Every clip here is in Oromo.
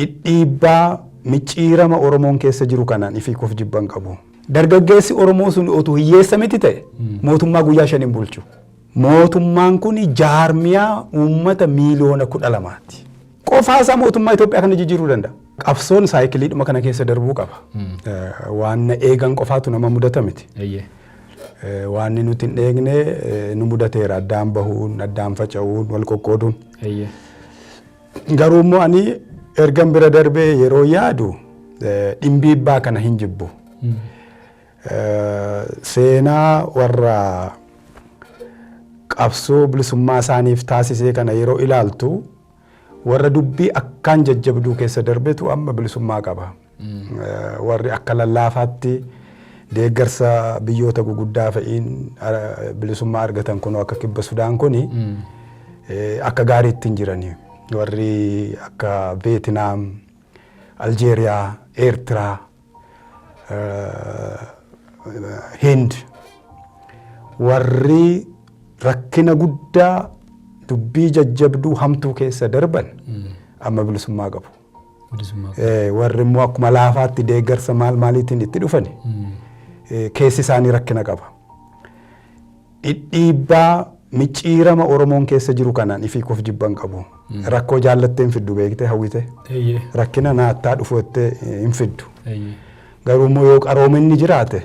Dhidhiibbaa micciirama Oromoon keessa jiru kanaan ifii koof jibba hin qabu. Dargaggeessi Oromoo sun otuu hiyyeessa miti ta'e mootummaa guyyaa shan hin bulchu. Mootummaan kun jaarmiyaa uummata miiliyoona kudha lamaati. Qofaa isaa mootummaa Itoophiyaa kana jijjiiruu danda'a. Qabsoon saayikiliidhuma kana keessa darbuu qaba. Eh, Waan na eegan qofaatu nama mudata miti. Eeyyee. Eh, Waan inni nuti hin eegne eh, nu mudateera. Addaan bahuun, addaan faca'uun, wal qoqqooduun. Eeyyee. Garuu immoo ani ergan bira darbee yeroo yaadu dhimbiibbaa kana hin jibbu. Seenaa warra qabsoo bilisummaa isaaniif taasisee kana yeroo ilaaltu warra dubbii akkaan jajjabduu keessa darbetu amma bilisummaa qaba. Warri akka lallaafaatti deeggarsa biyyoota guguddaa fa'iin bilisummaa argatan kunoo akka kibba Sudaan kuni akka gaariitti hin jirani. Warri akka Veetinaam, Aljeeriyaa, Eertiraa, Hind warri rakkina guddaa dubbii jajjabduu hamtuu keessa darban amma bilisummaa qabu. warri immoo akkuma laafaatti deeggarsa maal maaliitiin itti dhufani keessi isaanii rakkina qaba. Dhidhiibbaa micciirama Oromoon keessa jiru kanaan ifii koof jibban qabu. Rakkoo jaallatteen fiddu beektee hawwite. Rakkina naattaa dhufu jettee hin fiddu. Garuu immoo yoo qaroominni jiraate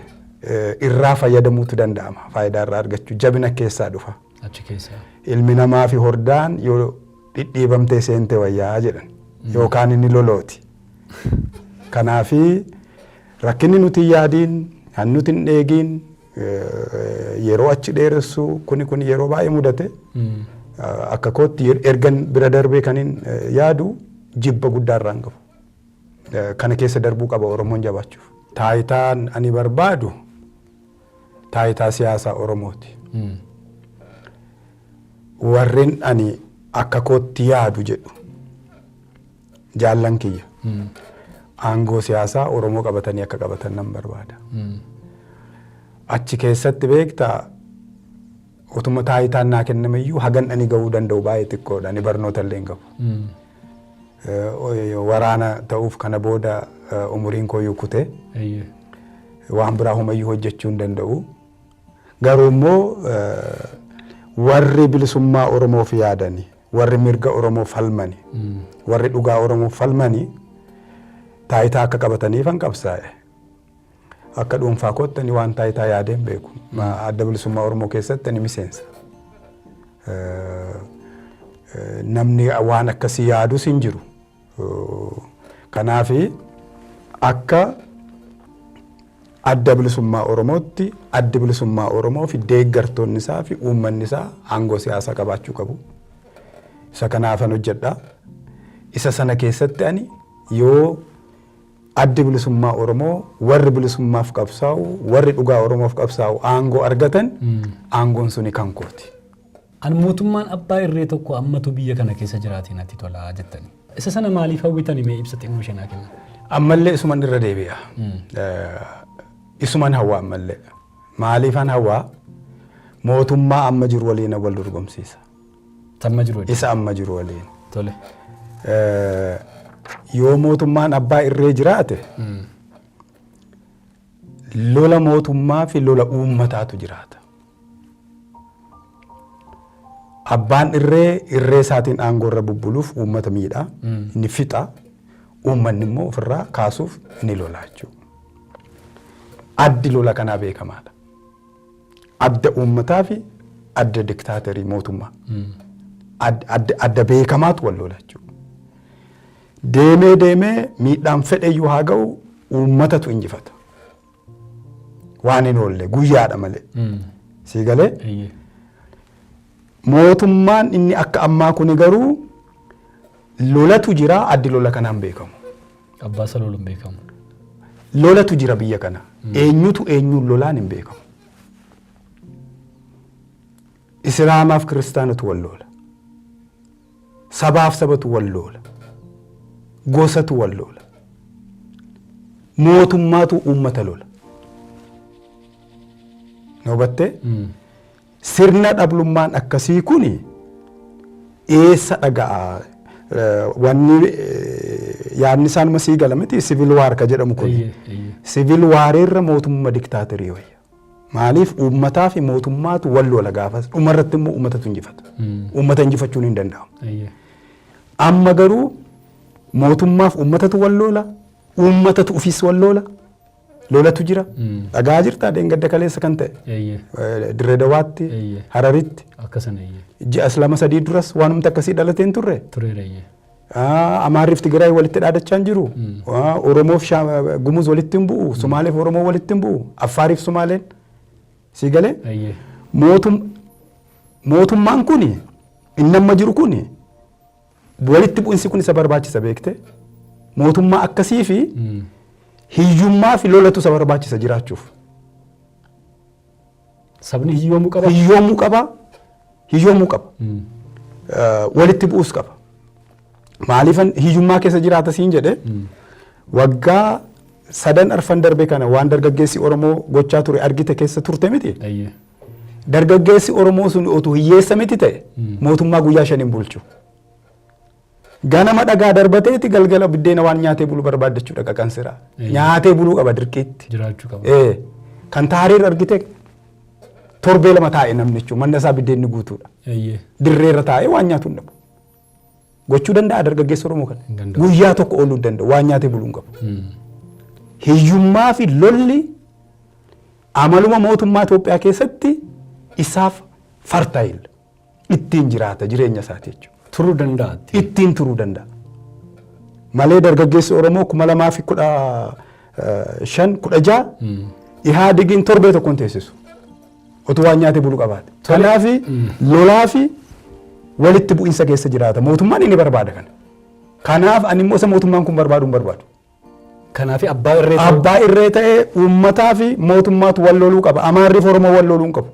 irraa fayyadamuutu danda'ama. Faayidaa irraa argachuu jabina keessaa dhufa. Ilmi namaa fi hordaan yoo dhidhiibamtee seente wayyaa jedhan yookaan inni lolooti. Kanaafi rakkinni nuti hin yaadiin, kan nuti hin dheegiin, eh, yeroo achi dheeressuu kuni kun yeroo baay'ee mudate eh, akka kootti yer- ergan bira darbee kanin eh, yaadu jibba guddaa irraan qabu. Eh, Kana keessa darbuu qaba Oromoon jabaachuuf. Taayitaan ani barbaadu taayitaa siyaasaa Oromooti. Warren ani akka kootti yaadu jedhu jaallan kiyya aangoo siyaasaa Oromoo qabatanii akka qabatan nan barbaada. Achi keessatti beektaa Otuma taayitaan naa kenname iyyuu hagan ani ga'uu danda'u baay'ee xiqqoodha. Ani barnoota illee hin qabu. Waraana ta'uuf kana booda umuriin koo iyyuu kute. Waan biraa homayyuu hojjechuu hin danda'u. Garuu immoo warri bilisummaa Oromoof yaadani, warri mirga Oromoo falmani, warri dhugaa Oromoof falmani taayitaa akka qabataniif an qabsaa'e. Akka dhuunfaa kootti ani waan taayitaa yaadee hin beeku. Adda bilisummaa Oromoo keessatti ani miseensa. Namni waan akkasii yaadus hin jiru. Kanaaf akka adda bilisummaa Oromootti addi bilisummaa Oromoo fi deeggartoonni isaa fi uummanni isaa aangoo siyaasaa qabaachuu qabu. Isa kanaafan hojjedha. Isa sana keessatti ani yoo Addi Bilisummaa Oromoo warri bilisummaaf qabsaa'u, warri dhugaa Oromoof qabsaa'u aangoo argatan aangoon suni kan kooti. An mootummaan abbaa irree tokko ammatu biyya kana keessa jiraate natti tola jettani. Isa sana maaliif hawwitani mee ibsa xinnoo ishee naa kenna. Ammallee isuman irra deebi'a. Isuman hawwa ammallee. Maaliifan hawwa? Mootummaa amma jiru waliin wal dorgomsiisa. Tamma jiru waliin. Isa amma jiru waliin. Tole. Eh, Yoo mootummaan abbaa irree jiraate lola mootummaa fi lola uummataatu jiraata. Abbaan irree irree isaatiin aangoo irra bubbuluuf uummata miidha, inni fixa, uummanni immoo ofirraa kaasuuf ni lola jechuudha. Addi lola kanaa beekamaadha. Adda uummataa fi adda diktaaterii mootummaa. Ad- Adda adda beekamaatu wal lola jechuudha. Deemee deemee miidhaan fedheyyuu haa ga'u uummatatu injifata. Waan hin oolle guyyaadha malee. Sii galee Eeyyee. mootummaan inni akka ammaa kuni garuu lolatu jira addi lola kanaan beekamu. Abbaa isa lolu hin beekamu. Lolatu jira biyya kana. Eenyutu eenyuun lolaan hin beekamu. Islaamaaf kiristaanatu wal loola. Sabaaf sabatu wal loola. Gosatu wal loola. Mootummaatu uummata lola. Noo battee? Sirna dhablummaan akkasii kun eessa dhaga'a? Wanni yaadni isaa numa sii gala miti sivil waar ka jedhamu kun. Sivil waareerra mootummaa diktaaterii wayya. Maaliif uummataa fi mootummaatu wal lola gaafas dhumarratti immoo uummatatu injifata. Uummata injifachuun hin danda'amu. Amma garuu mootummaaf uummatatu wal lola, uummatatu ofiis wal lola, lolatu jira. Dhagaa jirta dheengadda kaleessa kan ta'e. Eeyyee. Eh, Dirree Dawaatti, Eeyyee. Hararitti, Akka sana eeyyee. ji'as lama sadii duras waanumti akkasii dhalatee hin turre. Tureera eeyyee. Ah, Amaarriif Tigraay walitti dhaadachaa hin jiru. Ah, Oromoof Shaa- Gumuz walitti hin bu'u. Sumaaleef Oromoo walitti hin bu'u. Affaariif Sumaaleen. Sii galee? Eeyyee. Mootum- Mootummaan kun inni amma jiru kun Walitti bu'insi kun isa barbaachisa beekte mootummaa akkasii fi hiyyummaa fi lolatu isa barbaachisa jiraachuuf. Sabni hiyyoomuu qaba. Hiyyoomuu qaba. Hiyyoomuu qaba. Walitti bu'uus qaba. Maaliifan hiyyummaa keessa jiraata siin jedhe waggaa sadan arfan darbe kana waan dargaggeessi Oromoo gochaa ture argite keessa turte miti. Dargaggeessi Oromoo sun otuu hiyyeessa miti ta'e mootummaa guyyaa shan hin bulchu. Ganama dhagaa darbateeti galgala biddeena waan nyaatee bulu barbaaddachuu dhaqa kan siraa. Nyaatee buluu qaba dirqiitti. Jiraachuu qaba. Ee, kan taariir argite torbee lama taa'e namni jechuun manna isaa biddeenni guutuudha. Eeyyee. Dirreerra taa'ee waan nyaatu hin dhabu. Gochuu danda'a dargaggeessa Oromoo kana. Hin danda'u. Guyyaa tokko ooluu hin danda'u. Waan nyaatee buluu hin qabu. Hiyyummaa fi lolli amaluma mootummaa Itoophiyaa keessatti isaaf fartaayil ittiin jiraata jireenya isaati jechuudha. Turuu danda'atti. Ittiin turuu danda'a. Malee dargaggeessi Oromoo kuma lamaa fi kudha eh, shan kudha ja'a Ihaadigiin torbee tokkoon teessisu. Otuu waan nyaatee bulu qabaate. Kanaaf lolaa fi walitti bu'insa keessa jiraata. Mootummaan inni barbaada kana. Kanaaf ani immoo isa mootummaan kun barbaadu hin barbaadu. Kanaaf abbaa irree ta'uu- Abbaa irree ta'ee uummataa fi mootummaatu wal loluu qaba. Amaarri fi Oromoo wal loluu hin qabu.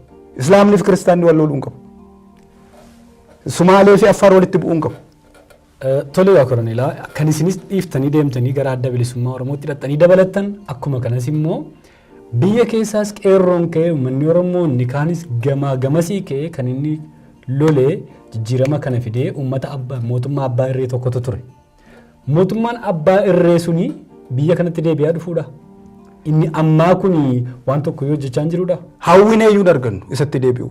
Islaamni fi Kiristaanni wal loluu hin qabu. Sumaalee fi Affaar walitti bu'uu hin qabu. Tole yaa Koroneelaa, kan isinis dhiiftanii deemtanii gara Adda Bilisummaa Oromootti hidhattanii dabalattan akkuma kanas immoo biyya keessaas qeerroon ka'ee uummanni Oromoo inni kaanis gamaa gamasii ka'ee kan inni lolee jijjiirama kana fidee uummata abbaa mootummaa abbaa irree tokkotu ture. Mootummaan abbaa irree suni biyya kanatti deebi'aa dhufuudha. Inni ammaa kun waan tokko yoo hojjechaa hin jiruudha. Hawwinee iyyuu hin argannu isatti deebi'u.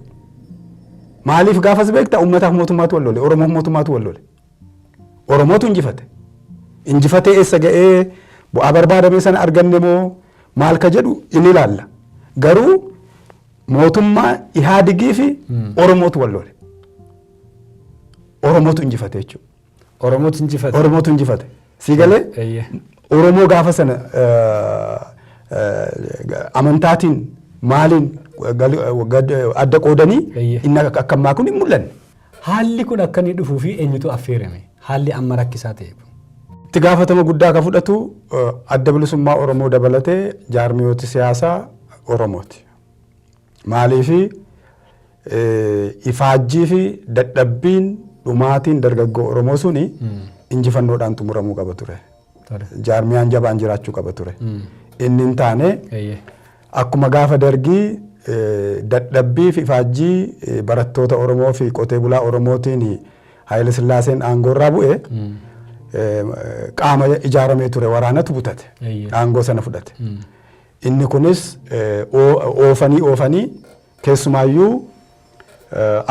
Maaliif gaafas beekta uummataaf mootummaatu wal lole Oromoof mootummaatu wal lole. Oromootu injifate. Injifatee eessa ga'ee bu'aa barbaadamee sana arganne moo maal ka jedhu in ilaalla. Garuu mootummaa Ihaadigii fi Oromootu wal lole. Oromootu injifate jechuudha. Oromotu injifate. Oromootu injifate. Sii galee Eeyyee. Oromoo gaafa sana eh, eh, amantaatiin maaliin gal- gad- adda qoodanii Eeyyee. inni akka akka ammaa kun hin mul'anne. Haalli kun akka inni dhufuu fi eenyutu affeerame? Haalli amma rakkisaa ta'e kun. Itti gaafatama guddaa kan fudhatu eh, adda bilisummaa Oromoo dabalatee jaarmiyooti siyaasaa Oromooti. Maaliifi ifaajjii fi dadhabbiin dhumaatiin dargaggoo Oromoo suni injifannoodhaan xumuramuu qaba ture. Jaarmiyaan jabaan jiraachuu qaba ture. Inni hin taane akkuma gaafa dargii dadhabbii fi ifaajjii barattoota Oromoo fi qotee bulaa Oromootiin Haayila Sillaaseen aangoorraa bu'e qaama ijaaramee ture waraanatu butate aangoo sana fudhate. Inni kunis oofanii oofanii keessumaayyuu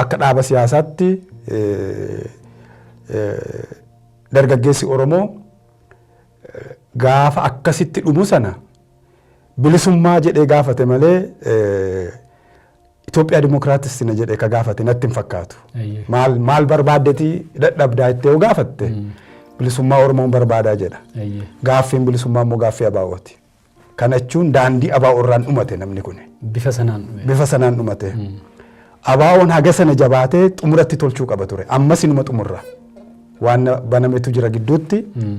akka dhaaba siyaasaatti dargaggeessi Oromoo gaafa akkasitti dhumu sana bilisummaa jedhee gaafate malee Itoophiyaa Dimookiraatistina jedhee ka gaafate natti hin fakkaatu. Maal maal barbaaddeeti dadhabdaa itti yoo gaafatte bilisummaa Oromoon barbaadaa jedha. Gaaffiin bilisummaa immoo gaaffii abaawooti. Kana jechuun daandii abaa'oo irraan dhumate namni kun. Bifa sanaan dhume. Bifa sanaan dhumate. Abaa'oon haga sana jabaatee xumuratti tolchuu qaba ture. Ammas inuma xumurra. Waan banametu jira gidduutti.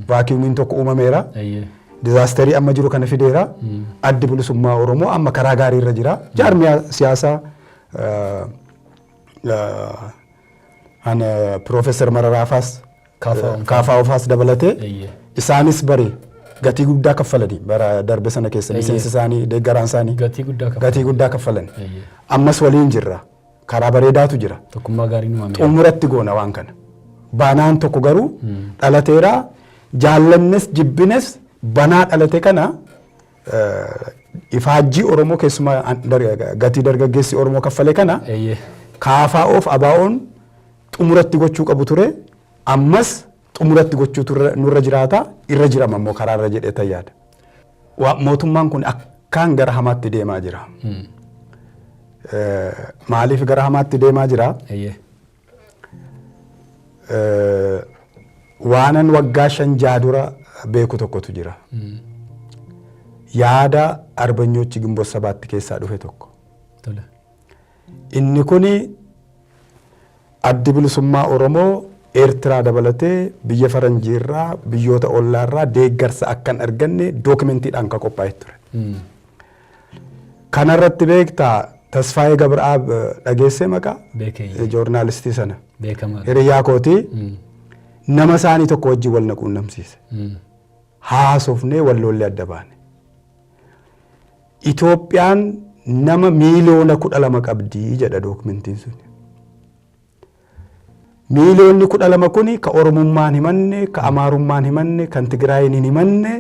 Vaakiyumiin tokko uumameera. Ayyee. Dizaasterii amma jiru kana fideera. Addi bilisummaa Oromoo amma karaa gaarii irra jira. Jaarmiyaa siyaasaa eh, eh, ana Piroofeesar Mararaafaas Kaafaa'oon kan- kaafaa ofaas dabalatee Eeyyee. isaanis bari gatii guddaa kaffalanii bara darbe sana keessa Eeyyee. miseensi isaanii deeggaraan isaanii Gatii guddaa kaffalanii. gatii guddaa kaffalan Eeyyee. ammas waliin jirra karaa bareedaatu jira Tokkummaa gaarii uumame. xumuratti goona waan kana banaan tokko garuu dhalateera jaallannes jibbines banaa dhalate kana eh, ifaajjii oromoo keessumaa an- dar- gatii dargaggeessi oromoo kaffale kana Eeyyee. kaafaa of abaa'oon xumura itti gochuu qabu ture. Ammas xumura itti gochuutu irra- nurra jiraata. Irra jirama immoo karaa irra jedhee tan yaada. Waa- Mootummaan kun akkaan gara hamaatti deemaa jira. Eh, Maaliif gara hamaatti deemaa jira? Eeyyee. Eh, waanan waggaa shan jaha dura beeku tokkotu jira. Yaada arbanyoochi gimboota sabaatti keessaa dhufe tokko. Tole. Inni kun Addi Bilisummaa Oromoo Eertiraa dabalatee biyya faranjii irraa, biyyoota ollaa irraa deeggarsa akka hin arganne dookimentiidhaan kan qophaa'e ture. Kana irratti beektaa Tasfaayee Gabra'aab dhageessee maqaa Beekee. joornaalistii sana. Beekamaa. Hiriyaa kootii Mm. nama isaanii tokko wajjin wal na quunnamsiise. Mm. Haasofnee walloollee adda baane. Itoophiyaan nama miiliyoona 12 qabdi jedha dookmentiin sun. Miiliyoonni 12 kun ka Oromummaan himanne, ka Amaarummaan himanne, kan Tigraayin hin himanne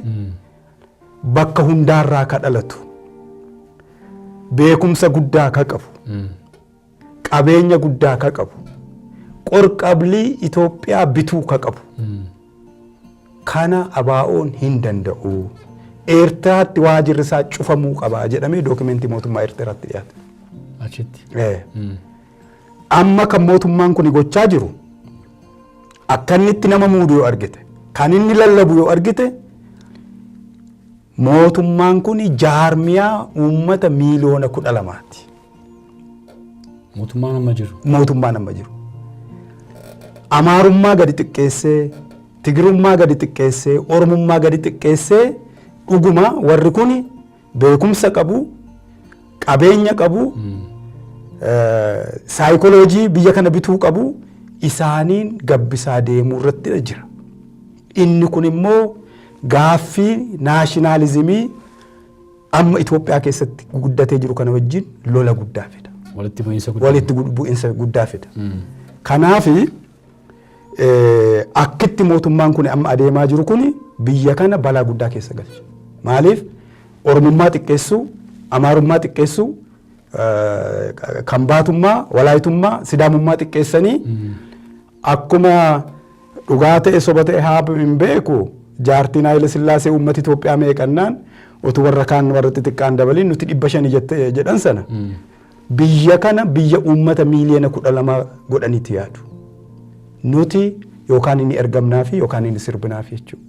bakka hundaarraa ka dhalatu. Beekumsa guddaa ka qabu. qabeenya guddaa ka qabu qorqablii Itoophiyaa bituu ka qabu kana abaa'oon hin danda'u. Eertiraatti waajirri isaa cufamuu qaba jedhamee dookimentii mootummaa Eertiraatti dhiyaate. Achitti. Eh. Amma kan mootummaan kun gochaa jiru akka inni itti nama muudu yoo argite kan inni lallabu yoo argite Mootummaan kun jaarmiyaa uummata miiliyoona 12 ti. Mootummaan amma jiru. Mootummaan amma jiru. Amaarummaa gadi xiqqeessee, Tigirummaa gadi xiqqeessee, Oromummaa gadi xiqqeessee dhuguma warri kun beekumsa qabu, qabeenya qabu, saayikoloojii biyya kana bituu qabu isaaniin gabbisaa deemuu irratti jira. Inni kun immoo gaaffii naashinaalizimii amma Itoophiyaa keessatti guddatee jiru kana wajjin lola guddaa fida. Walitti bu'iinsa guddaa. Walitti bu'iinsa guddaa fida. Hmm. Kanaaf akkitti mootummaan kun amma adeemaa jiru kun biyya kana balaa guddaa keessa galcha. Maaliif Oromummaa xiqqeessuu, Amaarummaa xiqqeessuu, kan baatummaa, walaayitummaa, sidaamummaa xiqqeessanii hmm. Akkuma dhugaa ta'e soba ta'e haab hin beeku jaartiin Haayile Sillaasee uummata Itoophiyaa meeqannaan otu warra kaan warra xixiqqaan dabaliin nuti dhibba shani jette jedhan sana biyya kana biyya uummata miiliyoona kudha lama godhanitti yaadu. Nuti yookaan inni ergamnaafi yookaan inni sirbinaafi jechuudha.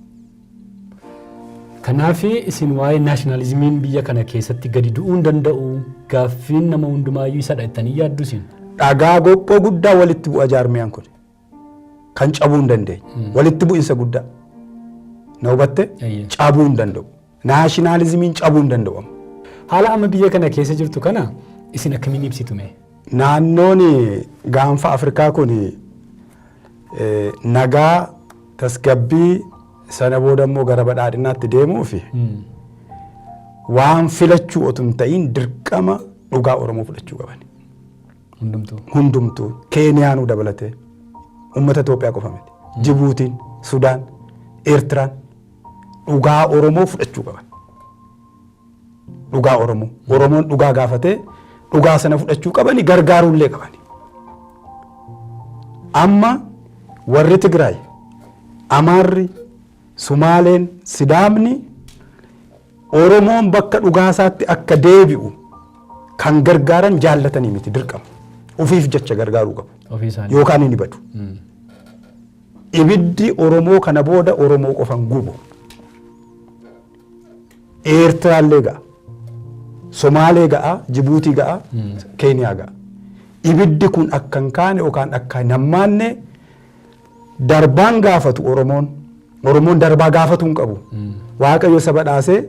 Kanaaf isin waa'ee naashinaalizimiin biyya kana keessatti gadi du'uu hin danda'u gaaffiin nama hundumaayyuu isadha jettanii yaaddu isin. Dhagaa gophoo guddaa walitti bu'a jaarmiyaan kun kan cabuu hin dandeenye walitti bu'insa guddaa na hubatte Eeyyee. cabuu hin danda'u naashinaalizimiin cabuu hin danda'u amma. Haala amma biyya kana keessa jirtu kana isin akkamiin ibsitu mee? Naannoon gaanfa Afrikaa kun nagaa tasgabbii sana booda immoo gara badhaadhinaatti deemuufi waan filachuu otu hin ta'iin dirqama dhugaa Oromoo fudhachuu qaban. Hundumtuu. Hundumtuu Keeniyaanuu dabalatee uummata Itoophiyaa qofa miti. Jibuutiin, Sudaan, Eertiraan dhugaa Oromoo fudhachuu qaban. Dhugaa Oromoo. Oromoon dhugaa gaafatee dhugaa sana fudhachuu qabani gargaaruullee qabani. Amma warri Tigraay, Amaarri, Sumaaleen, Sidaamni Oromoon bakka dhugaasaatti akka deebi'u kan gargaaran jaallatanii miti dirqama. Ofiif jecha gargaaruu qabu. Ofii isaanii. Yookaan inni badu. Ibiddi Oromoo kana booda Oromoo qofan gubu. Eertiraallee ga'a. Somaalee ga'a, Jibuutii ga'a, Keeniyaa ga'a. Ibiddi kun akka hin kaane yookaan akka hin hammaanne darbaan gaafatu Oromoon. Oromoon darbaa gaafatu hin qabu. Waaqayyo saba dhaasee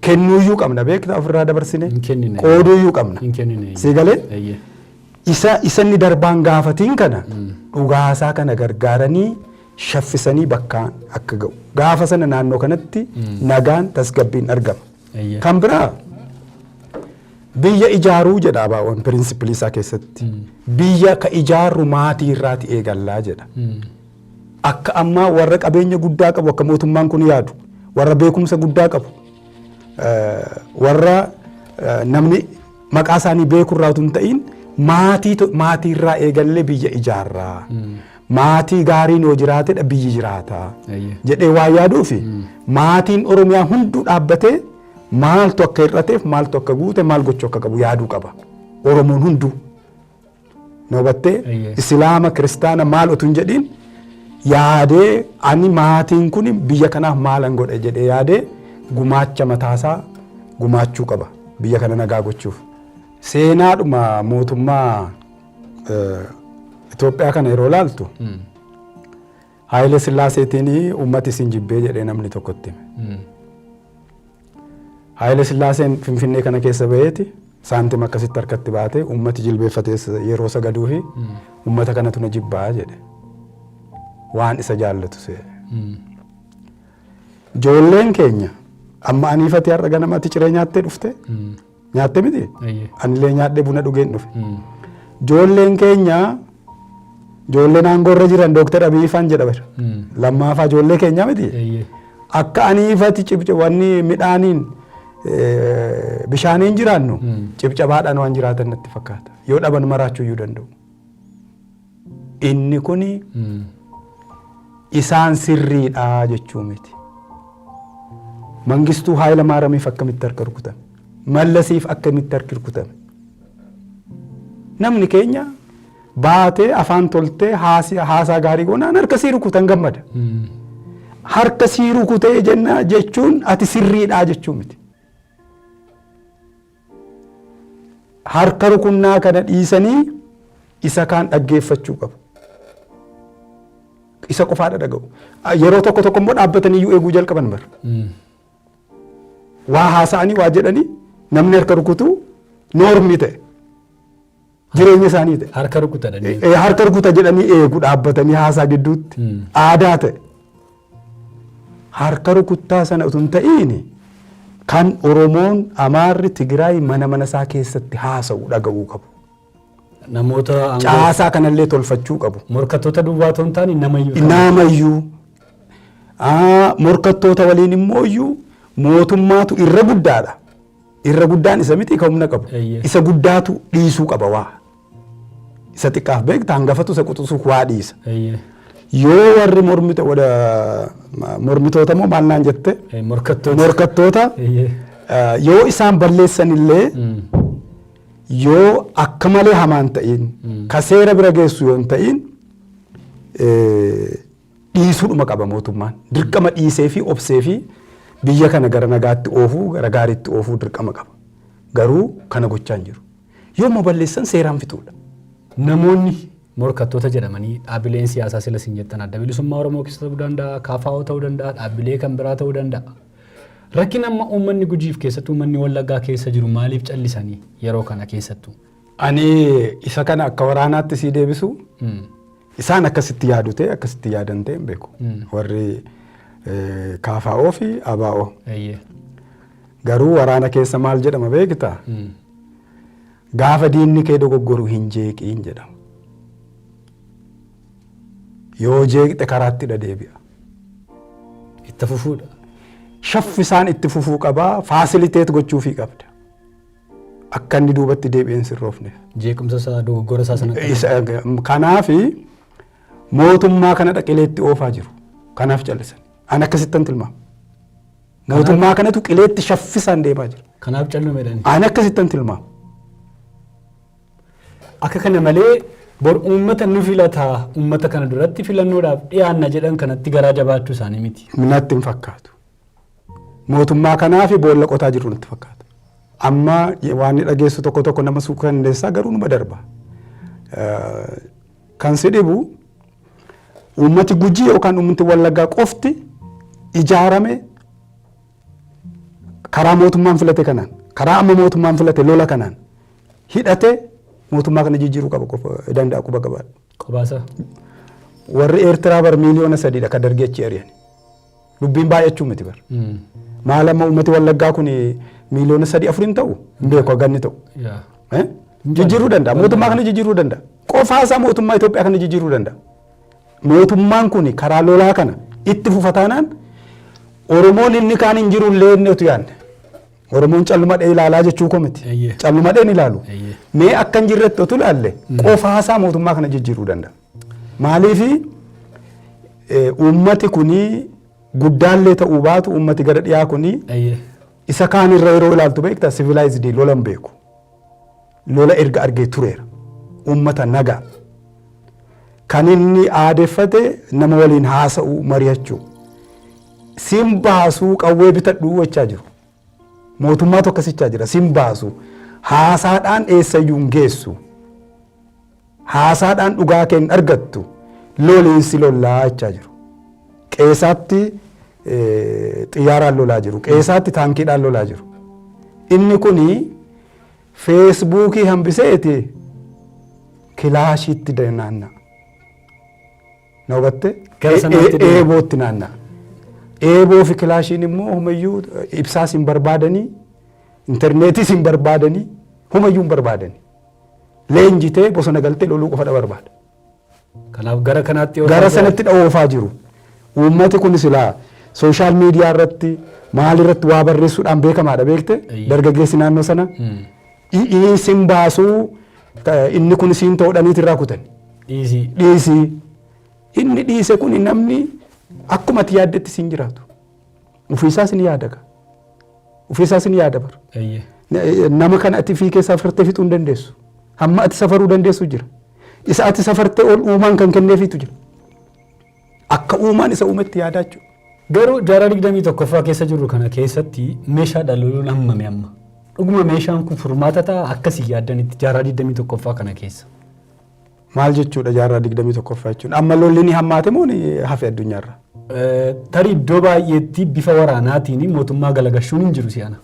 kennuuyyuu qabna beektaa ofirraa dabarsine Hin kennine. qooduuyyuu qabna. Hin kennine. Sii galee? Eeyyee. isa isanni darbaan gaafatiin kana dhugaasaa kana gargaaranii shaffisanii bakkaan akka ga'u. Gaafa sana naannoo kanatti nagaan tasgabbiin argama. Eeyyee. Kan biraa biyya ijaaruu jedha abaawwan pirinsipilii isaa keessatti. Biyya ka ijaarru maatii irraati eegallaa jedha. Akka ammaa warra qabeenya guddaa qabu akka mootummaan kun yaadu warra beekumsa guddaa qabu eh, warra eh, namni maqaa isaanii beeku irraa utuu hin ta'in maatii to- maatii irraa eegallee biyya ijaarraa. Maatii gaariin yoo jiraatedha biyyi jiraata Eeyyee. jedhee waa yaaduufi maatiin Oromiyaa hunduu dhaabbatee maaltu akka hir'ateef maaltu akka guute maal gochuu akka qabu yaaduu qaba. Oromoon hunduu. Na hubattee Eeyyee. Islaama kiristaana maal otuu hin jedhiin yaadee ani maatiin kun biyya kanaaf maalan godhe jedhee yaadee gumaacha mataasaa gumaachuu qaba biyya kana nagaa gochuuf. Seenaadhuma mootummaa Itoophiyaa kana yeroo laaltu Haayile Sillaaseetiin uummati isin jibbee jedhee namni tokko itti hime. Haayile Sillaaseen Finfinnee kana keessa baheeti saantima akkasitti harkatti baatee uummati jilbeeffatee yeroo sagaduu fi uummata kanatu na jibbaa jedhe. Waan isa jaallatu se'e. Ijoolleen keenya amma aniifatii har'a ganamatti ciree nyaattee dhufte nyaatte miti Eeyyee. anillee nyaadhee buna dhugeen dhufe Mm. joolleen keenya joolleen aangoorra jiran dooktar abiy faan jedha bara Mm. lammaafaa joollee keenyaa miti Eeyyee. akka aniifati cibcabanni midhaaniin eh, bishaaniin jiraannu Mm. cibcabaadhaan waan jiraatan natti fakkaata yoo dhaban maraachuu iyyuu danda'u Inni kun isaan sirriidha jechuu miti. Mangistuu Haayila Maaramiif akkamitti harka rukutame? Mallasiif akkamitti harki rukutame? Namni keenya baatee afaan toltee haasaa gaarii goonaan harka sii rukutan gammada. Harka sii rukutee jenna jechuun ati sirriidha jechuu miti. harka rukunnaa kana dhiisanii isa kaan dhaggeeffachuu qabu. Isa qofaadha dhaga'u. Yeroo tokko tokko immoo dhaabbatanii iyyuu eeguu jalqaban bara. Waa haasa'anii waa jedhanii namni harka rukutuu noormii ta'e. Jireenya isaanii ta'e. Harka rukuta dhanii. Eh, harka rukuta jedhanii eegu dhaabbatanii haasaa gidduutti Mm. aadaa ta'e. Harka rukuttaa sana utuu hin ta'iin kan Oromoon Amaarri Tigraay mana mana isaa keessatti haasa'u dhaga'uu qabu. Namoota aangoo- Caasaa kanallee tolfachuu qabu. morkattoota duwwaa otoo hin taane nama iyyuu. Naamayyuu ah, morkattoota waliin immoo iyyuu mootummaatu irra guddaadha. Irra guddaan isa miti ka humna qabu. Eeyyee. Isa guddaatu dhiisuu qaba waa. Isa xiqqaaf beekta hangafatu isa quxusuuf waa dhiisa. Eeyyee. Yoo warri mormito- wada- ma- mormitoota moo maal naan jette Eh, Morkattoota. morkattoota Eeyyee. eh, yoo isaan balleessan illee Mm. yoo akka malee hamaan ta'in ka seera bira geessu yoo hin ta'in eh, dhiisuudhuma qaba mootummaan. Dirqama dhiisee fi obsee fi biyya kana gara nagaatti oofuu, gara gaariitti oofuu dirqama qaba. Garuu kana gochaa hin jiru. Yoo immoo balleessan seeraan fixuudha. Namoonni morkattoota jedhamanii dhaabbileen siyaasaa sila isin jettan adda bilisummaa Oromoo keessa ta'uu danda'a, KFO ta'uu danda'a, dhaabbilee kan biraa ta'uu danda'a. Rakkina amma uummanni Gujiif keessattuu uummanni Wallaggaa keessa jiru maaliif callisanii yeroo kana keessattuu? Ani isa kana akka waraanaatti sii deebisu isaan akkasitti yaadu ta'e akkasitti yaadan ta'e hin beeku. Warri eh, kaafaa'oo fi abaa'oo. Eeyyee. Garuu waraana keessa maal jedhama beekta? Mm. Gaafa diinni kee dogoggoru hin jeeqiin jedhama. Yoo jeeqxe karaatti dha deebi'a. Itti fufuudha. Shaffisaan itti fufuu qabaa, faasiliteet gochuufii qabda. akka inni duubatti deebi'ee hin sirroofneef. Jeequmsa isaa dogoggora isaa sana Isa- Kanaaf mootummaa kana dhaqilee itti oofaa jiru. Kanaaf callisan. Ani akkasittan tilmaama. Mootummaa kanatu qileetti shaffisaan deemaa jira. kanaaf callumeedhaan. Ani akkasittan tilmaama. Akka kana malee bor uummata nu filataa uummata kana duratti filannoodhaaf dhiyaanna jedhan kanatti garaa jabaachuu isaanii miti. Natti hin fakkaatu. mootummaa kanaafi boolla qotaa jirru natti fakkaata. Amma waan ni dhageessu tokko tokko nama suukanneessaa garuu numa darba. Kan si dhibu uummati gujii yookaan uummati wallaggaa qofti ijaarame karaa mootummaan filate kanaan karaa amma mootummaan filate lola kanaan hidhate mootummaa kana jijjiiruu qaba qofa danda'a quba qabaadha. Qabaasa. Warri Eertiraa bar miiliyoona sadiidha kan dargii achi ari'an. Dubbiin baay'achuu miti bar. Maal amma uummati wallaggaa kun miiliyoona sadii afur hin ta'u hin beeku haga inni ta'u. Yaa. Eh? Jijjiiruu danda'a. Mootummaa kana jijjiiruu danda'a. Qofaasaa mootummaa Itoophiyaa kana jijjiiruu danda'a. Mootummaan kun karaa lolaa kana itti fufa taanaan Oromoon inni kaan hin jiru illee inni utuu yaadne. Oromoon callumadhee ilaalaa jechuu koo miti. Eeyyee. Callumadheen ilaalu. Eeyyee. Mee akka hin jirretti utuu ilaalle qofaasaa mootummaa kana jijjiiruu danda'a. Maaliifi uummati kuni guddaallee ta'uu baatu uummati gara dhiyaa kuni isa kaan irra yeroo ilaaltu beekta sivilaayizidii lola hin beeku. Lola erga argee tureera. Uummata nagaa. Kan inni aadeffate nama waliin haasa'u mari'achuu. Siin baasuu qawwee bitadhuu jechaa jiru. Mootummaatu akkasichaa jira sin baasu haasaadhaan eessayyuu hin geessu haasaadhaan dhugaa kee hin argattu loliin si lollaa jechaa jiru qeesaatti xiyyaaraan lolaa jiru qeesaatti taankiidhaan lolaa jiru inni kun feesbuukii hambiseeti kilaashiitti naanna'a. Na hubatte? Gara E- sanaatti e- deema. Eebootti naanna'a. Eeboo fi kilaashiin immoo humayyuu eh, ibsaas hin barbaadanii, intarneetis hin barbaadanii, humayyuu hin barbaadanii. Leenjitee bosona galtee loluu qofadha barbaada. Kanaaf gara kanaatti yoo gara ta'u- sanatti dha'oofaa jiru. Uummati kun silaa sooshaal miidiyaa irratti maal irratti waa barreessuudhaan beekamaadha beekte Eeyyee. dargaggeessi naannoo sana Mm. Dhi'ii sin baasuu inni kun siin toodhaniiti irraa kutani. Dhiisii. Dhiisii. Inni dhiise kun namni akkuma ati yaaddetti siin jiraatu. Ofiisaa sin yaadaga. Ofiisaa sin yaada bara. Eeyyee. Nama kana ati fi keessaa safartee fixuu hin dandeessu. Hamma ati safaruu dandeessu jira. Isa ati safartee ol uumaan kan kenneefiitu jira. Akka uumaan isa uumetti yaadaa jechuudha. Garuu jaarraa 21ffaa keessa jirru kana keessatti meeshaa dhaloonuun hammame amma? Dhuguma meeshaan kun furmaata ta'a akkasii yaaddanitti jaarraa 21ffaa kana keessa. Maal jechuudha jaarraa 21ffaa jechuun? Amma lolli ni hammaate moo ni hafe addunyaarra? Tarii iddoo baay'eetti bifa waraanaatiin mootummaa galagashuun hin jiru si'ana.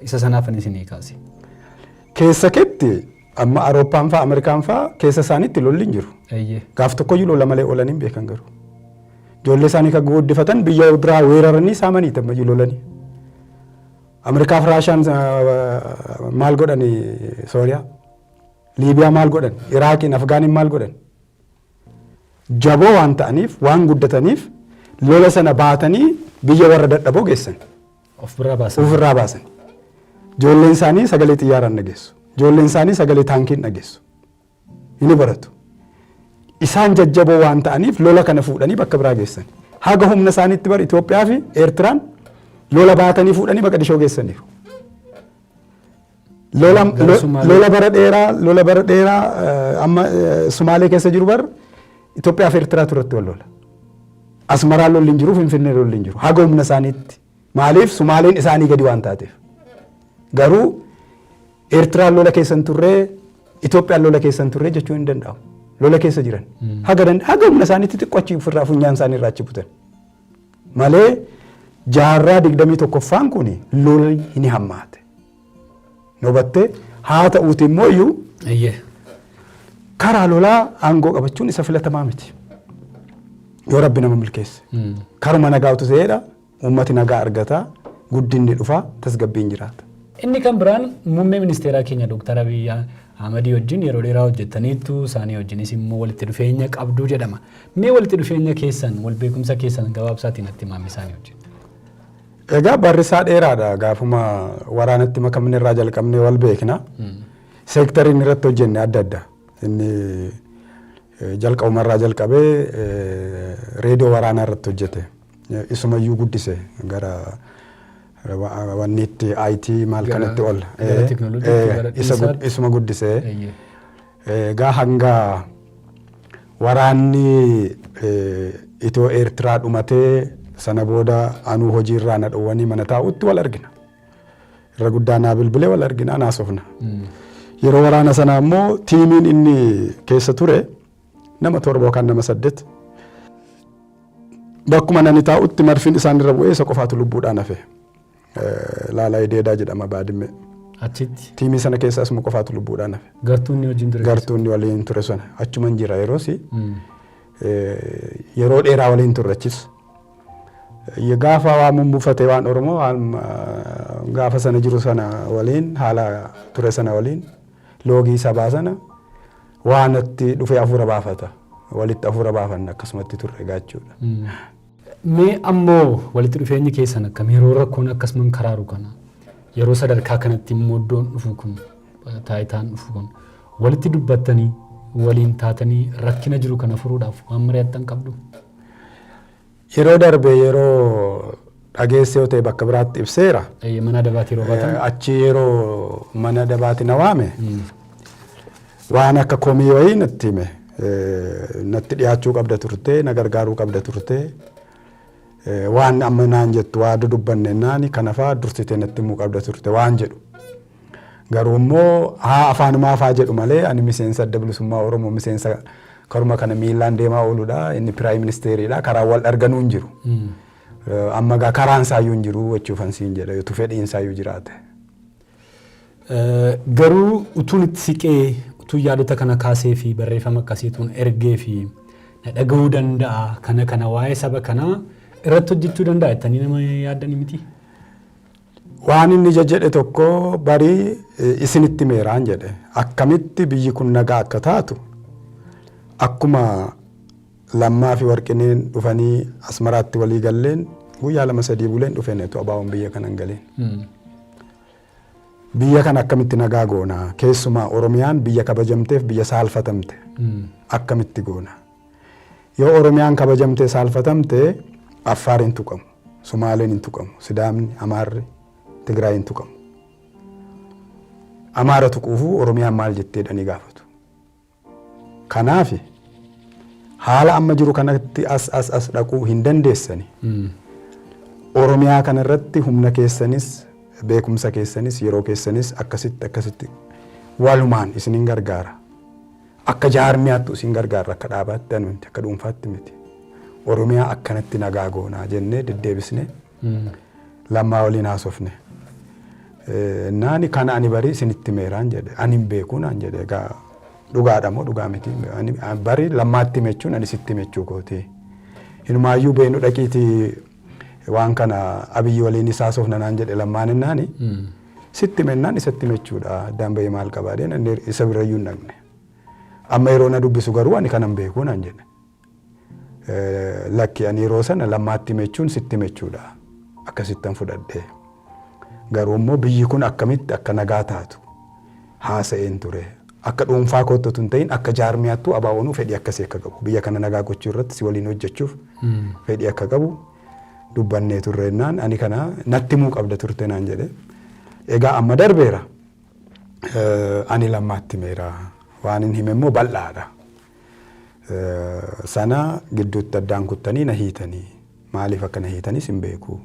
Isa sanaaf ani isin kaase. Keessa ketti Amma Arooppaan faa Ameerikaan faa keessa isaaniitti lolli hin jiru. Eeyyee. Gaaf tokkoyyuu lola malee oolanii hin beekan garuu. Ijoollee isaanii kan guddifatan biyya biraa weeraranii saamanii tammayyuu lolanii. Ameerikaa fi Raashaan ah, maal godhani Sooriyaa? Liibiyaa maal godhan? Iraaqiin, Afgaaniin maal godhan? Jaboo waan ta'aniif, waan guddataniif lola sana baatanii biyya warra dadhaboo geessan. Of biraa baasan. Of irraa baasan. Ijoolleen isaanii sagalee xiyyaaraa hin dhageessu. Ijoolleen isaanii sagalee taankii hin dhageessu. Inni baratu. Isaan jajjaboo waan ta'aniif lola kana fuudhanii bakka biraa geessan. Haga humna isaaniitti bar Itoophiyaa fi Eertiraan lola baatanii fuudhanii Maqadishoo geessaniiru. Lola, Gara lo- Somaalee. lola bara dheeraa lola bara dheeraa eh, amma eh, Somaalee keessa jiru bar Itoophiyaa fi Eertiraatu irratti wal lola. Asmaraa lolli hin jiru Finfinnee lolli hin jiru haga humna isaaniitti maaliif Somaaleen isaanii gadi waan taateef. Garuu Eertiraan lola keessa hin turre Itoophiyaan lola keessa hin turre jechuun hin danda'amu. Lola keessa jiran haga dand- haga humna isaaniitti xiqqoo achi ofirraa funyaan isaanii irraa achi butan. Malee jaarraa 21ffaan kun lolli ni hammaate. Nobattee haa ta'uuti immoo iyyuu Eeyyee. karaa lolaa aangoo qabachuun isa filatamaa miti. Yoo rabbi nama milkeesse. Mm. Karuma nagaa utuu ta'eedha. Uummati nagaa argata. Guddinni dhufa. Tasgabbiin jiraata. Inni kan biraan muummee ministeeraa keenya Dooktar Abiyyi Ahmadii wajjin yeroo dheeraa hojjettaniittu, isaanii wajjinis immoo walitti dhufeenya qabdu jedhama. Mee walitti dhufeenya keessan, wal beekumsa keessan gabaabsaatii natti himaa mee isaanii wajjin. Egaa barri isaa dheeraadha. Gaafuma waraanatti makamne irraa jalqabnee wal beekna. Seektarii inni irratti hojjenne adda adda. Inni eh, jalqabuma irraa jalqabee eh, reediyoo waraanaa irratti hojjete. Eh, Isumayyuu guddise gara Wanniitti IT maal Gara- kanatti ol. gara technology Eh, gara isa gud- dhiisaatti. Isuma guddisee. Eeyyee. Egaa hanga waraanni eh, Itoo Eertiraa dhumatee sana booda anuu hojiirraa na dhowwanii mana taa'utti wal argina. Irra guddaa naa bilbilee wal argina naasofna. Yeroo waraana sana ammoo tiimiin inni keessa ture Nama torba yookaan nama saddet bakkuma nani taa'utti marfiin isaan irra bu'ee isa qofaatu lubbuudhaan hafe. Laalaa Ideedaa jedhama baadimmee. Achitti. Tiimii sana keessa asuma qofaatu lubbuudhaan hafe. Gartuun ni wajjin ture. Gartuun ni waliin ture sana achuma hin jira yeroos yeroo dheeraa waliin turrachis. Gaafa waa mummufatee waan Oromoo gaafa sana jiru sana waliin haala ture sana waliin loogii sabaa sana Waa natti dhufee afuura baafata. Walitti afuura baafanna akkasumatti turre egaa jechuudha. Mee ammoo walitti dhufeenyi keessan akkam yeroo rakkoon akkasuman karaaru kana yeroo sadarkaa kanatti immoo iddoon dhufu kun taayitaan dhufu kun walitti dubbattanii waliin taatanii rakkina jiru kana furuudhaaf waan mari'attan qabdu? Yeroo darbe yeroo dhageesse yoo ta'e bakka biraatti ibseera. Eeyyee mana adabaati yeroo baatan. Eh, Achi yeroo mana adabaati na waame waan akka komii wayii natti hime. Eh, Natti dhiyaachuu qabda turte, na gargaaruu qabda turte. Eh, Waan amma naan jettu waa dudubbanne naani kanafaa dursitee natti himuu qabda turte waan jedhu. Garuu immoo haa afaanumaaf haa jedhu malee ani miseensa adda bilisummaa Oromoo miseensa karuma kana miillaan deemaa ooludha. Inni piraayim ministeeriidha. Karaan wal arganuu hin jiru. Amma egaa karaan isaayyuu hin jiru jechuufan siin jedha utuu fedhiin isaayyuu jiraate. Garuu utuun itti siqee utuu yaadota kana kaasee fi barreeffama akkasiituun ergee fi na dhaga'uu danda'a kana kana waa'ee saba kanaa irratti hojjechuu danda'a jettanii nama yaaddanii miti. Waan inni ija jedhe tokko bari isinitti himeeraan jedhe. Akkamitti biyyi kun nagaa akka taatu akkuma lammaa fi warqineen dhufanii asmaraatti walii galleen guyyaa lama sadii buleen dhufeen etu abaawoon biyya kana hin galeen. Biyya kana akkamitti nagaa goona keessumaa Oromiyaan biyya kabajamteef biyya saalfatamte akkamitti goona Yoo Oromiyaan kabajamtee saalfatamte Affaar hin tuqamu, Sumaaleen hin tuqamu, Sidaamni, Amaarri, Tigraay hin tuqamu. Amaara tuquufuu Oromiyaan maal jettee jedhanii gaafatu. Kanaaf haala amma jiru kanatti as as as dhaquu hin dandeessani. Oromiyaa kana irratti humna keessanis beekumsa keessanis yeroo keessanis akkasitti akkasitti walumaan isinin gargaara. Akka jaarmiyaattu isin gargaarra akka dhaabaatti danuunti akka dhuunfaatti miti. Oromiyaa akkanatti nagaa goonaa jennee deddeebisnee lammaa waliin haasofne. Naani kana ani barii isinitti meeraan jedhe ani hin beekuu naan jedhe egaa dhugaadha moo dhugaa miti barii lammaatti mechuun ani sitti mechuu kooti. Hinumaayyuu beenu dhaqiitii Waan kana Abiyyi waliinis haasofna naan jedhe lammaan ennaani. Sitti mennaan isatti mechuudha addaan bahee maal qabaa deen inni isa birayyuu hin dhaqne. Amma yeroo na dubbisu garuu ani kanan beekuu naan jedhe. Lakki ani yeroo sana lammaatti mechuun sitti mechuudha akkasittan fudhadhe. Garuu immoo biyyi kun akkamitti akka nagaa taatu haasa'een ture. Akka dhuunfaa kootti otoo hin ta'in akka jaarmiyaattuu ABOn fedhii akkasii akka qabu biyya kana nagaa gochuu irratti si waliin hojjechuuf fedhii akka qabu dubbannee turre jennaan ani kana natti himuu qabda turte naan jedhe. Egaa amma darbeera. Eh, Ani lammaatti himeera. Waan hin hime immoo bal'aadha. Eh, Sana gidduutti addaan kuttanii na hiitanii. Maaliif akka na hiitanis hin beeku.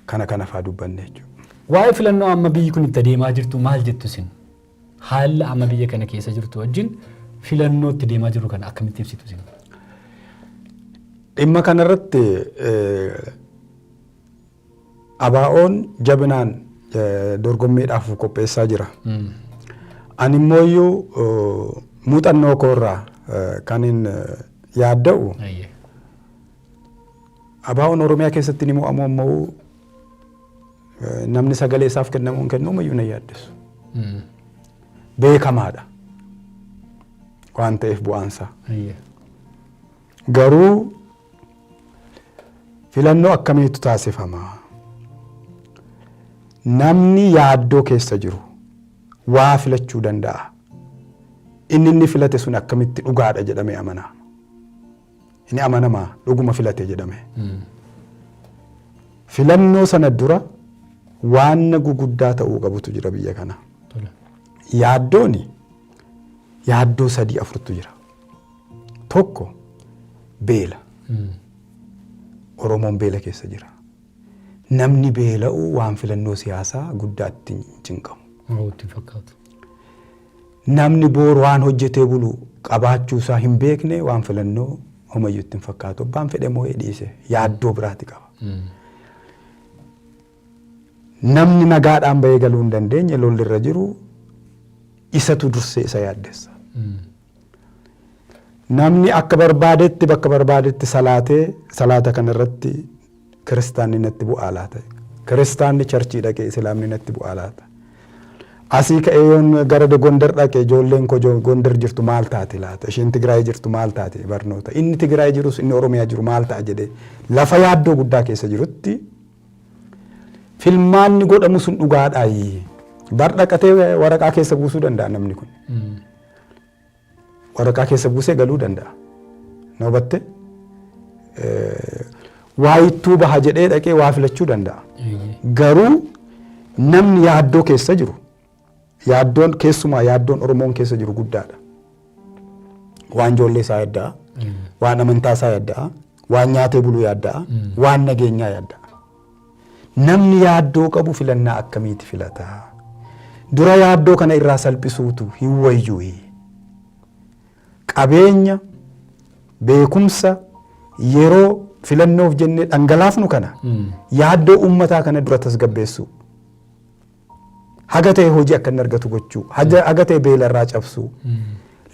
Kana kana faa dubbanne jechuudha. Waa'ee filannoo amma biyyi kun itti adeemaa jirtu maal jettu isin? Haala amma biyya kana keessa jirtu wajjin filannoo itti deemaa jiru kana akkamitti ibsitu isin? Dhimma kanarratti ABOn jabinaan dorgommiidhaaf of qopheessaa jira. Ani immoo iyyuu muuxannoo koorraa kan hin yaadda'u ABOn Oromiyaa keessatti ni mo'amu ammoo namni sagalee isaaf kennamuu hin kennuuma iyyuu na yaaddessu. Beekamaadha waan ta'eef bu'aansaa. Garuu Filannoo akkamiitu taasifama? Namni yaaddoo keessa jiru waa filachuu danda'a. Inni inni filate sun akkamitti dhugaadha jedhamee amana. Inni amanamaa dhuguma filate jedhame. Filannoo sana dura waanna guguddaa ta'uu qabutu jira biyya kana. Yaaddooni yaaddoo sadii afurtu jira. Tokko beela. Oromoon beela keessa jira. Namni beela'u waan filannoo siyaasaa guddaa itti hin cinqamu. Oromoo itti hin fakkaatu. Namni booru waan hojjetee bulu qabaachuu isaa hin beekne waan filannoo homayyuu itti hin fakkaatu. Abbaan fedhe moo dhiise yaaddoo biraati qaba. Namni nagaadhaan bahee galuu hin dandeenye lolli irra jiru isatu dursee isa yaaddessa. Namni akka barbaadetti bakka barbaadetti salaatee salaata kana irratti kiristaanni natti bu'aa laata? Kiristaanni charchii dhaqee islaamni natti bu'aa laata? Asii ka'ee yoon gara Gondar dhaqe ijoolleen koo Gondar jirtu maal taati laata? Isheen Tigraay jirtu maal taati barnoota? Inni Tigraay jirus inni Oromiyaa jiru maal ta'a jedhee lafa yaaddoo guddaa keessa jirutti filmaanni godhamu sun dhugaadhaayi. Bar dhaqatee waraqaa keessa buusuu danda'a namni kun. Waraqaa keessa buusee galuu danda'a. Na hubatte? Waa ittuu baha jedhee dhaqee waa filachuu danda'a. Garuu namni yaaddoo keessa jiru yaaddoon keessumaa yaaddoon Oromoon keessa jiru guddaadha. Waan ijoollee isaa yaadda'a. Waan amantaa isaa yaadda'a. Waan nyaatee buluu yaadda'a. Waan nageenyaa yaadda'a. Namni yaaddoo qabu filannaa akkamiiti filata? Dura yaaddoo kana irraa salphisuutu hin wayyuuyi. Qabeenya, beekumsa, yeroo filannoof jennee dhangalaafnu kana yaaddoo uummataa kana dura tasgabbeessuu. Haga ta'e hojii akka inni argatu gochuu, haga ta'e beelarraa cabsuu,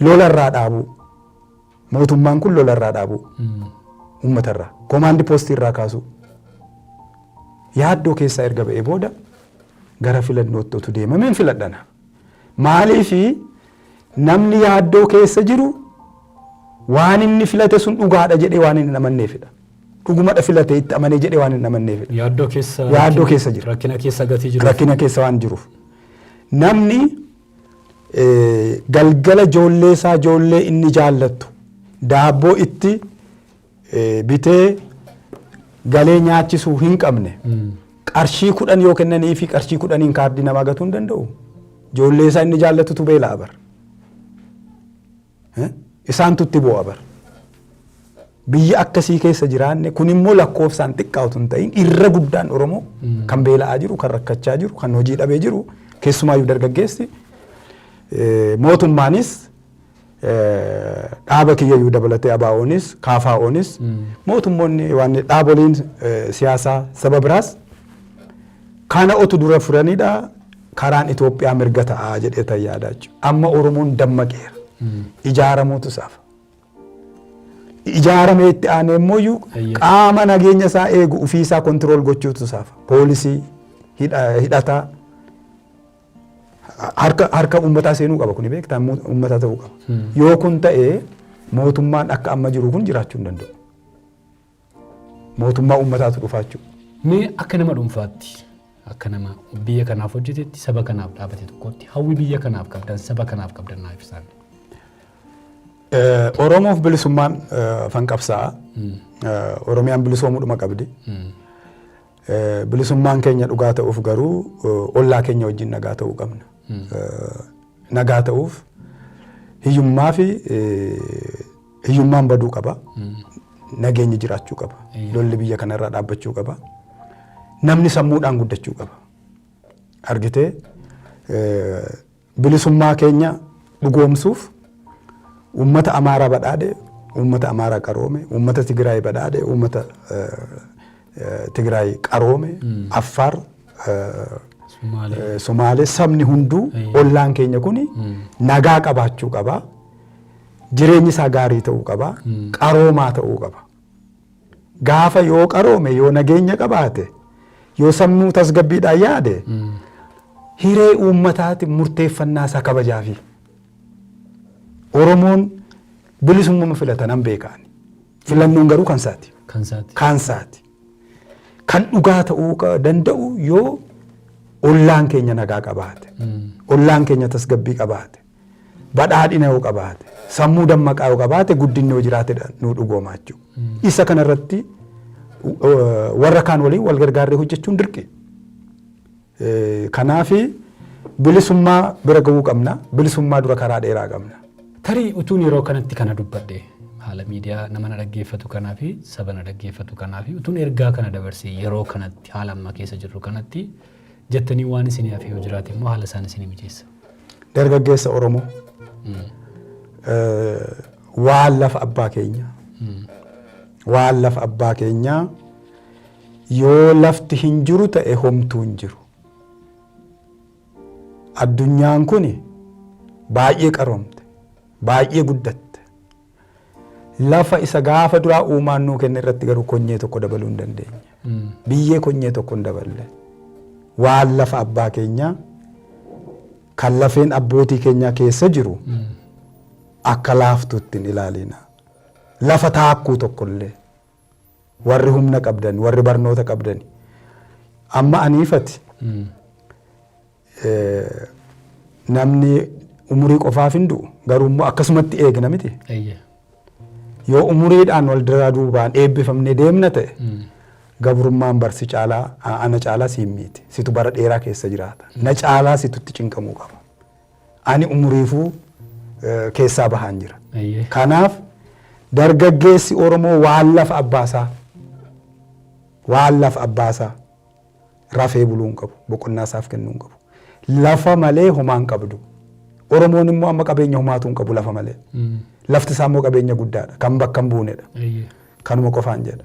lolarraa dhaabuu. Mootummaan kun lola irraa dhaabuu, uummata irraa, komaandi poostii irraa kaasuu yaaddoo keessaa erga ba'ee booda gara filannootti otu deemameen filadhana. Maaliif namni yaaddoo keessa jiru waan inni filate sun dhugaadha jedhee waan inni amanneefidha. Dhugumadha filate itti amanee jedhee waan inni amanneefidha. Yaaddoo keessa Yaaddoo keessa jira. Rakkina keessa gatii jiru. Rakkina keessa waan jiruuf. Namni galgala ijoollee isaa ijoollee inni jaallattu daabboo itti bitee galee nyaachisuu hin qabne qarshii kudhan yoo kennanii fi qarshii kudhaniin kaardii namaa gatuu hin danda'u. Ijoollee isaa inni jaallatutu beela'a bara. Isaantu itti boo'a bar. Biyya akkasii keessa jiraanne kun immoo lakkoofsaan xiqqaa utuu hin ta'in irra guddaan Oromoo kan beela'aa jiru, kan rakkachaa jiru, kan hojii dhabee jiru keessumaayyuu dargaggeessi mootummaanis dhaaba kiyyayyuu dabalatee ABO'nis KFO'nis mootummoonni waan dhaaboliin siyaasaa saba biraas Kana otu dura furanidha karaan Itoophiyaa mirga ta'a jedhee tan yaadaa jechuudha. Amma Oromoon dammaqeera. Ijaaramuutu saafa. Ijaaramee itti aanee immoo iyyuu Eeyyee. qaama nageenya isaa eegu ofii isaa kontirool gochuutu saafa. Poolisii, hidha- hidhataa, harka harka uummataa seenuu qaba kuni beektaa Mu- uummata ta'uu qaba. Yoo kun ta'e mootummaan akka amma jiru kun jiraachuu hin danda'u. Mootummaa uummataatu dhufaa jechuudha. Mee akka nama dhuunfaatti, akka nama biyya kanaaf hojjetetti, saba kanaaf dhaabate tokkotti hawwi biyya kanaaf qabdan, saba kanaaf qabdan naa ibsaa. Oromoof bilisummaan afan qabsa'a. Oromiyaan bilisoomuudhuma qabdi. Bilisummaan keenya dhugaa ta'uuf garuu ollaa keenya wajjin nagaa ta'uu qabna. Nagaa ta'uuf hiyyummaa fi Hiyyummaan baduu qaba. Nageenyi jiraachuu qaba. Lolli biyya kanarraa dhaabbachuu qaba. Namni sammuudhaan guddachuu qaba. Argitee eh, bilisummaa keenya dhugoomsuuf uummata Amaaraa badhaadhe, uummata Amaaraa qaroome, uummata Tigraay badhaadhe, uummata eh, eh, Tigraay qaroome, Affaar eh, Sumaalee. Eh, Somaalee sabni hunduu Eeyyee. ollaan keenya kun nagaa qabaachuu qaba. Jireenyi isaa gaarii ta'uu qaba. Qaroomaa ta'uu qaba. Gaafa yoo qaroome yoo nageenya qabaate yoo sammuu tasgabbiidhaan yaade hiree uummataati murteeffannaa isaa kabajaafi. Oromoon bilisummaa filata nan beekaan. Filannoon garuu kan isaati. Kan isaati. Kan isaati. Kan dhugaa ta'uu qa- danda'u yoo ollaan keenya nagaa qabaate. Ollaan keenya tasgabbii qabaate. badhaadhina yoo qabaate, sammuu dammaqaa yoo qabaate guddinni yoo jiraatedha nuu dhugooma jechuudha. Isa kanarratti warra kaan waliin wal gargaarree hojjechuun dirqi. Kanaaf bilisummaa bira ga'uu qabna. Bilisummaa dura karaa dheeraa qabna. Tarii utuun yeroo kanatti kana dubbadhe haala miidiyaa nama na dhaggeeffatu kanaa fi saba na dhaggeeffatu kanaa fi utuun ergaa kana dabarse yeroo kanatti haala amma keessa jirru kanatti jettanii waan isinii hafe yoo jiraate immoo haala isaan isinii mijeessa. Dargaggeessa Oromoo waan lafa abbaa keenya waan lafa abbaa keenyaa yoo lafti hin jiru ta'e homtuu hin jiru. Addunyaan kun baay'ee qaroomte baay'ee guddatte Lafa isa gaafa duraa uumaan nuu kenne irratti garuu konyee tokko dabaluu hin dandeenye. Biyyee konyee tokko hin daballe. Waan lafa abbaa keenyaa kan lafeen abbootii keenyaa keessa jiru akka laaftuutti hin ilaalina. Lafa taakkuu tokkollee. warri humna qabdan warri barnoota qabdani amma aniifati eh, namni umurii qofaaf hin du'u garuu immoo akkasumatti eegna miti Eeyyee. yoo umuriidhaan wal duraa duubaan eebbifamne deemna ta'e Mm. gabrummaan barsi caalaa a- ana caalaa siin miiti situ bara dheeraa keessa jiraata na caalaa situtti cinqamuu qaba ani umuriifuu keessaa bahaan jira. Kanaaf dargaggeessi Oromoo waan lafa abbaasaa waan lafa abbaasaa rafee buluu hin qabu boqonnaa isaaf kennuu hin qabu lafa malee homaa hin qabdu oromoon immoo amma qabeenya homaatuu hin qabu lafa malee lafti isaa immoo qabeenya guddaadha kan bakka hin buunedha kanuma qofaan jedha.